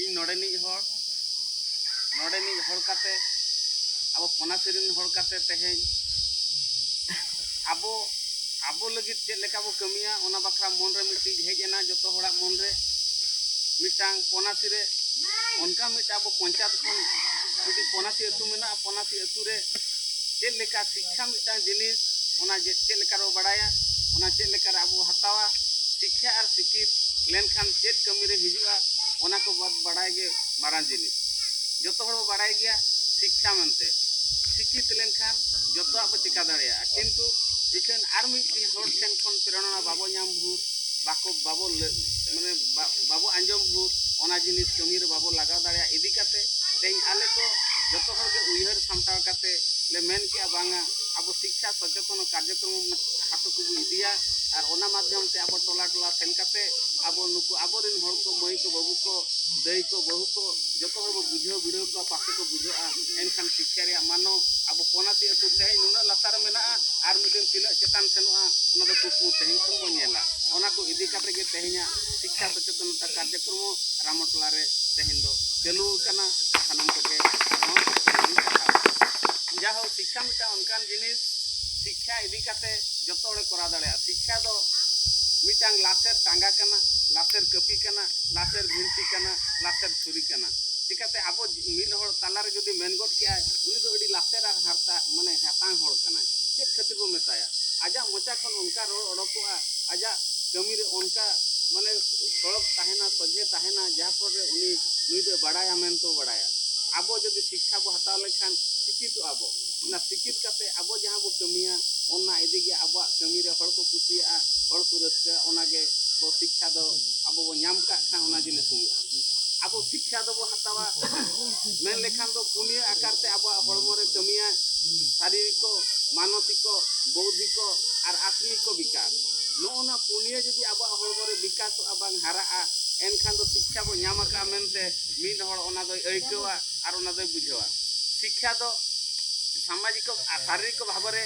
ᱤᱧ ᱱᱚᱰᱮᱱᱤᱡ ᱦᱚᱲ ᱱᱚᱰᱮᱱᱤᱡ ᱦᱚᱲ ᱠᱟᱛᱮ ᱟᱵᱚ ᱯᱚᱱᱟᱥᱤ ᱨᱮᱱ ᱦᱚᱲ ᱠᱟᱛᱮ ᱛᱮᱦᱮᱧ ᱟᱵᱚ ᱟᱵᱚ ᱞᱟᱹᱜᱤᱫ ᱪᱮᱫ ᱞᱮᱠᱟ ᱵᱚ ᱠᱟᱹᱢᱤᱭᱟ ᱚᱱᱟ ᱵᱟᱠᱷᱨᱟ ᱢᱚᱱ ᱨᱮ ᱢᱤᱫᱴᱤᱡ ᱦᱮᱡ ᱮᱱᱟ ᱡᱚᱛᱚ ᱦᱚᱲᱟᱜ ᱢᱚᱱ ᱨᱮ ᱢᱤᱫᱴᱟᱝ ᱯᱚᱱᱟᱥᱤ ᱨᱮ ᱚᱱᱠᱟ ᱢᱤᱫᱴᱟᱝ ᱟᱵᱚ ᱯᱚᱧᱪᱟᱭᱮᱛ ᱠᱷᱚᱱ ᱢᱤᱫᱴᱤᱡ ᱯᱚᱱᱟᱥᱤ ᱟᱹᱛᱩ ᱢᱮᱱᱟᱜᱼᱟ ᱯᱚᱱᱟᱥᱤ ᱟᱹᱛᱩ ᱨᱮ ᱪᱮᱫ ᱞᱮᱠᱟ ᱥᱤᱠᱠᱷᱟ ᱢᱤᱫᱴᱟᱝ ᱡᱤᱱᱤᱥ ᱚᱱᱟ ᱪᱮᱫ ᱞᱮᱠᱟ ᱨᱮ ᱵᱟᱲᱟᱭᱟ ᱚᱱᱟ ᱪᱮᱫ ᱞᱮᱠᱟ ᱨᱮ ᱟᱵᱚ ᱦᱟᱛᱟᱣᱟ ᱥᱤᱠᱠᱷᱟ ᱟᱨ ᱥᱤᱠᱤᱛ ᱞᱮᱱᱠᱷᱟᱱ ᱪᱮᱫ ᱠᱟᱹᱢᱤ ᱨᱮ ᱦᱤᱡᱩᱜᱼᱟ ᱚᱱᱟ ᱠᱚ ᱵᱟᱫ ᱵᱟᱲᱟᱭ ᱜᱮ ᱢᱟᱨᱟᱝ ᱡᱤᱱᱤᱥ ᱡᱚᱛᱚ ᱦᱚᱲ ᱵᱚ ᱵᱟᱲᱟᱭ ᱜᱮᱭᱟ ᱥᱤᱠᱠᱷᱟ ᱢᱮᱱᱛᱮ ᱥᱤᱠᱤᱛ ᱞᱮᱱᱠᱷᱟᱱ ᱡᱚᱛᱚᱣᱟᱜ ᱵᱚ ᱪᱮᱠᱟ ᱫᱟᱲᱮᱭᱟᱜᱼᱟ ᱠᱤᱱᱛᱩ ᱤᱠᱷᱟᱹᱱ ᱟᱨ ᱢᱤᱫ ᱦᱚᱲ ᱴᱷᱮᱱ ᱠᱷᱚᱱ ᱯᱨᱮᱨᱚᱱᱟ ᱵᱟᱵᱚ ᱧᱟᱢ ᱵᱷᱳᱨ ᱵᱟᱠᱚ ᱵᱟᱵᱚ ᱢᱟᱱᱮ ᱵᱟᱵᱚ ᱟᱸᱡᱚᱢ ᱵᱷᱩᱨ ᱚᱱᱟ ᱡᱤᱱᱤᱥ ᱠᱟᱹᱢᱤ ᱨᱮ ᱵᱟᱵᱚ ᱞᱟᱜᱟᱣ ᱫᱟᱲᱮᱭᱟᱜ ᱤᱫᱤ ᱠᱟᱛᱮ ᱛᱮᱦᱮᱧ ᱟᱞᱮ ᱠᱚ ᱡᱚᱛᱚ ᱦᱚᱲ ᱜᱮ ᱩᱭᱦᱟᱹᱨ ᱥᱟᱢᱴᱟᱣ ᱠᱟᱛᱮ ᱞᱮ ᱢᱮᱱ ᱠᱮᱜᱼᱟ ᱵᱟᱝᱟ ᱟᱵᱚ ᱥᱤᱠᱠᱷᱟ ᱥᱚᱪᱮᱛᱚᱱ ᱠᱟᱨᱡᱚᱠᱨᱚᱢ ᱦᱟᱛᱚ ᱠᱚᱵᱚ ᱤᱫᱤᱭᱟ ᱟᱨ ᱚᱱᱟ ᱢᱟᱫᱽᱫᱷᱚᱢ ᱛᱮ ᱟᱵᱚ ᱴᱚᱞᱟ ᱴᱚᱞᱟ ᱥᱮᱱ ᱠᱟᱛᱮ ᱟᱵᱚ ᱱᱩᱠᱩ ᱟᱵᱚᱨᱮᱱ ᱦᱚᱲ ᱠᱚ ᱢᱟᱹᱭ ᱠᱚ ᱵᱟᱹᱵᱩ ᱠᱚ ᱫᱟᱹᱭ ᱠᱚ ᱵᱟᱹᱦᱩ ᱠᱚ ᱡᱚᱛᱚ ᱦᱚᱲ ᱵᱚ ᱵᱩᱡᱷᱟᱹᱣ ᱵᱤᱲᱟᱹᱣ ᱠᱚᱣᱟ ᱯᱟᱥᱮ ᱠᱚ ᱵᱩᱡᱷᱟᱹᱜᱼᱟ ᱮᱱᱠᱷᱟᱱ ᱥᱤᱠᱠᱷᱟ ᱨᱮᱭᱟᱜ ᱢᱟᱱᱚ ᱟᱵᱚ ᱯᱚᱱᱟᱥᱤ ᱟᱹᱛᱩ ᱛᱮᱦᱮᱧ ᱱᱩᱱᱟᱹᱜ ᱞᱟᱛᱟᱨ ᱨᱮ ᱢᱮᱱᱟᱜᱼᱟ ᱟᱨ ᱢᱤᱫ ᱫᱤᱱ ᱛᱤᱱᱟᱹᱜ ᱪᱮᱛᱟᱱ ᱥᱮᱱᱚᱜᱼᱟ ᱚᱱᱟ ᱫᱚ ᱠᱩᱠᱢᱩ ᱛᱮᱦᱮᱧ ᱠᱷᱚᱱ ᱵᱚᱱ ᱧᱮᱞᱟ ᱚᱱᱟ ᱠᱚ ᱤᱫᱤ ᱠᱟᱛᱮ ᱜᱮ ᱛᱮᱦᱮᱧᱟᱜ ᱥᱤᱠᱠᱷᱟ ᱥᱚᱪᱮᱛᱚᱱᱚᱛᱟ ᱠᱟᱨᱡᱚᱠᱨᱚᱢ ᱦᱚᱸ ᱨᱟᱢᱚᱴᱚᱞᱟ ᱨᱮ ᱛᱮᱦᱮᱧ ᱫᱚ ᱪᱟᱹᱞᱩ ᱟᱠᱟᱱᱟ ᱥᱟᱱᱟᱢ ᱠᱚᱜᱮ ᱟᱨᱦᱚᱸ ᱡᱟᱦᱳ ᱥᱤᱠᱠᱷᱟ ᱢᱤᱫᱴᱟᱝ ᱚᱱᱠᱟᱱ ᱡᱤᱱᱤᱥ ᱥᱤᱠᱠᱷᱟ ᱤᱫᱤ ᱠᱟᱛᱮ ᱡᱚᱛᱚ ᱦᱚᱲᱮ ᱠᱚᱨᱟᱣ ᱫᱟᱲᱮᱭᱟᱜᱼᱟ ᱥᱤᱠᱠᱷᱟ ᱫᱚ ᱢᱤᱫᱴᱟᱝ ᱞᱟᱥᱮᱨ ᱴᱟᱸᱜᱟ ᱠᱟᱱᱟ ᱞᱟᱥᱮᱨ ᱠᱟᱹᱯᱤ ᱠᱟᱱᱟ ᱞᱟᱥᱮᱨ ᱵᱷᱤᱱᱛᱤ ᱠᱟᱱᱟ ᱞᱟᱥᱮᱨ ᱪᱷᱩᱨᱤ ᱠᱟᱱᱟ ᱠᱟᱛᱮ ᱟᱵᱚ ᱢᱤᱫ ᱦᱚᱲ ᱛᱟᱞᱟ ᱨᱮ ᱡᱩᱫᱤ ᱢᱮᱱ ᱜᱚᱫ ᱠᱮᱜᱼᱟᱭ ᱩᱱᱤ ᱫᱚ ᱟᱹᱰᱤ ᱞᱟᱥᱮᱨ ᱟᱨ ᱦᱟᱨᱛᱟ ᱢᱟᱱᱮ ᱦᱟᱛᱟᱝ ᱦᱚᱲ ᱠᱟᱱᱟᱭ ᱪᱮᱫ ᱠᱷᱟᱹᱛᱤᱨ ᱵᱚ ᱢᱮᱛᱟᱭᱟ ᱟᱡᱟᱜ ᱢᱚᱪᱟ ᱠᱷᱚᱱ ᱚᱱᱠᱟ ᱨᱚᱲ ᱚᱰᱚᱠᱚᱜᱼᱟ ᱟᱡᱟᱜ ᱠᱟᱹᱢᱤ ᱨᱮ ᱚᱱᱠᱟ ᱢᱟᱱᱮ ᱥᱚᱲᱚᱠ ᱛᱟᱦᱮᱱᱟ ᱥᱚᱡᱷᱮ ᱛᱟᱦᱮᱱᱟ ᱡᱟᱦᱟᱸ ᱯᱷᱚᱞ ᱨᱮ ᱩᱱᱤ ᱱᱩᱭ ᱫᱚ ᱵᱟᱲᱟᱭᱟ ᱢᱮᱱᱛᱮ ᱵᱟᱲᱟᱭᱟ ᱟᱵᱚ ᱡᱩᱫᱤ ᱥᱤᱠᱠᱷᱟ ᱵᱚ ᱦᱟᱛᱟᱣ ᱞᱮᱠᱷᱟᱱ ᱥᱤᱠᱤᱛᱚᱜᱼᱟ ᱵᱚ ᱚᱱᱟ ᱥᱤᱠᱤᱛ ᱠᱟᱛᱮ ᱟᱵᱚ ᱡᱟᱦᱟᱸ ᱵᱚ ᱠᱟᱹᱢᱤᱭᱟ ᱚᱱᱟ ᱤᱫᱤ ᱜᱮ ᱟᱵᱚᱣᱟᱜ ᱠᱟᱹᱢᱤ ᱨᱮ ᱦᱚᱲ ᱠᱚ ᱠᱩᱥᱤᱭᱟᱜᱼᱟ ᱦᱚᱲ ᱠᱚ ᱨᱟᱹᱥᱠᱟᱹᱜᱼᱟ ᱚᱱᱟ ᱜᱮ ᱵᱚ ᱥᱤᱠᱠᱷᱟ ᱫᱚ ᱟᱵᱚ ᱵᱚ ᱧᱟᱢ ᱠᱟᱜ ᱠᱷᱟᱱ ᱚᱱᱟ ᱡᱤᱱᱤᱥ ᱦᱩᱭᱩᱜᱼᱟ ᱟᱵᱚ ᱥᱤᱠᱠᱷᱟ ᱫᱚᱵᱚ ᱦᱟᱛᱟᱣᱟ ᱢᱮᱱ ᱞᱮᱠᱷᱟᱱ ᱫᱚ ᱯᱩᱱᱭᱟᱹ ᱟᱠᱟᱨ ᱛᱮ ᱟᱵᱚᱣᱟᱜ ᱦᱚᱲᱢᱚ ᱨᱮ ᱠᱟᱹᱢᱤᱭᱟ ᱥᱟᱨᱤᱨᱤᱠᱚ ᱢᱟᱱᱚᱥᱤᱠᱚ ᱵᱚᱣᱫᱷᱤᱠᱚ ᱟᱨ ᱟᱛᱢᱤᱠᱚ ᱵᱤᱠᱟᱥ ᱱᱚᱜᱼᱚ ᱱᱚᱣᱟ ᱯᱩᱱᱭᱟᱹ ᱡᱩᱫᱤ ᱟᱵᱚᱣᱟᱜ ᱦᱚᱲᱢᱚ ᱨᱮ ᱵᱤᱠᱟᱥᱚᱜᱼᱟ ᱵᱟᱝ ᱦᱟᱨᱟᱜᱼᱟ ᱮᱱᱠᱷᱟᱱ ᱫᱚ ᱥᱤᱠᱠᱷᱟ ᱵᱚ ᱧᱟᱢ ᱟᱠᱟᱫᱼᱟ ᱢᱮᱱᱛᱮ ᱢᱤᱫ ᱦᱚᱲ ᱚᱱᱟ ᱫᱚᱭ ᱟᱹᱭᱠᱟᱹᱣᱟ ᱟᱨ ᱚᱱᱟ ᱫᱚᱭ ᱵᱩᱡᱷᱟᱹᱣᱟ ᱥᱤᱠᱠᱷᱟ ᱫᱚ ᱥᱟᱢᱟᱡᱤᱠᱚ ᱟᱨ ᱥᱟᱨᱤᱨᱤᱠᱚ ᱵᱷᱟᱵᱮ ᱨᱮ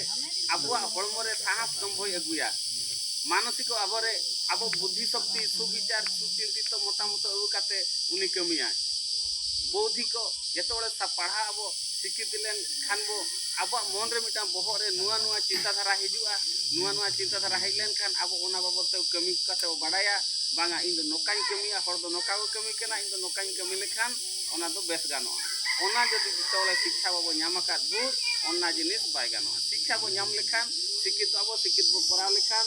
ᱟᱵᱚᱣᱟᱜ ᱦᱚᱲᱢᱚ ᱨᱮ ᱥᱟᱦᱟᱥ ᱥᱚᱢᱵᱷᱚᱭ ᱟᱹᱜᱩᱭᱟ ᱢᱟᱱᱚᱛᱤ ᱠᱚ ᱟᱵᱚ ᱨᱮ ᱟᱵᱚ ᱵᱩᱫᱷᱤ ᱥᱚᱠᱛᱤ ᱥᱩᱵᱤᱪᱟᱨ ᱥᱩᱪᱤᱱᱛᱤᱛ ᱢᱚᱛᱟᱢᱚᱛ ᱟᱹᱜᱩ ᱠᱟᱛᱮ ᱩᱱᱤ ᱠᱟᱹᱢᱤᱭᱟᱭ ᱵᱚᱣᱫᱷᱤ ᱠᱚ ᱡᱚᱛᱚ ᱦᱚᱲ ᱯᱟᱲᱦᱟᱜ ᱟᱵᱚ ᱥᱤᱠᱷᱤᱛ ᱞᱮᱱ ᱠᱷᱟᱱ ᱵᱚ ᱟᱵᱚᱣᱟᱜ ᱢᱚᱱ ᱨᱮ ᱢᱤᱫᱴᱟᱝ ᱵᱚᱦᱚᱜ ᱨᱮ ᱱᱚᱣᱟ ᱱᱚᱣᱟ ᱪᱤᱱᱛᱟ ᱫᱷᱟᱨᱟ ᱦᱤᱡᱩᱜᱼᱟ ᱱᱚᱣᱟ ᱱᱚᱣᱟ ᱪᱤᱱᱛᱟ ᱫᱷᱟᱨᱟ ᱦᱮᱡ ᱞᱮᱱ ᱠᱷᱟᱱ ᱟᱵᱚ ᱚᱱᱟ ᱵᱟᱵᱚᱫ ᱛᱮ ᱠᱟᱹᱢᱤ ᱠᱟᱛᱮ ᱵᱚ ᱵᱟᱲᱟᱭᱟ ᱵᱟᱝᱟ ᱤᱧ ᱫᱚ ᱱᱚᱝᱠᱟᱧ ᱠᱟᱹᱢᱤᱭᱟ ᱦᱚᱲ ᱫᱚ ᱱᱚᱝᱠᱟ ᱠᱚ ᱠᱟᱹᱢᱤ ᱠᱟᱱᱟ ᱤᱧ ᱫᱚ ᱱᱚᱝᱠᱟᱧ ᱠᱟᱹᱢᱤ ᱞᱮᱠᱷᱟᱱ ᱚᱱᱟ ᱫᱚ ᱵᱮᱥ ᱜᱟᱱᱚᱜᱼᱟ ᱚᱱᱟ ᱡᱩᱫᱤ ᱡᱚᱛᱚ ᱦᱚᱲ ᱥᱤᱠᱷᱟ ᱵᱟᱵᱚ ᱧᱟᱢ ᱟᱠᱟᱫ ᱵᱚ ᱚᱱᱟ ᱡᱤᱱᱤᱥ ᱵᱟᱭ ᱜᱟᱱᱚᱜᱼᱟ ᱥᱤᱠᱷᱟ ᱵᱚ ᱧᱟᱢ ᱞᱮᱠᱷᱟᱱ ᱥᱤᱠᱷᱤᱛᱚᱜ ᱟᱵᱚ ᱥᱤᱠᱷᱤᱛ ᱵᱚ ᱠᱚᱨᱟᱣ ᱞᱮᱠᱷᱟᱱ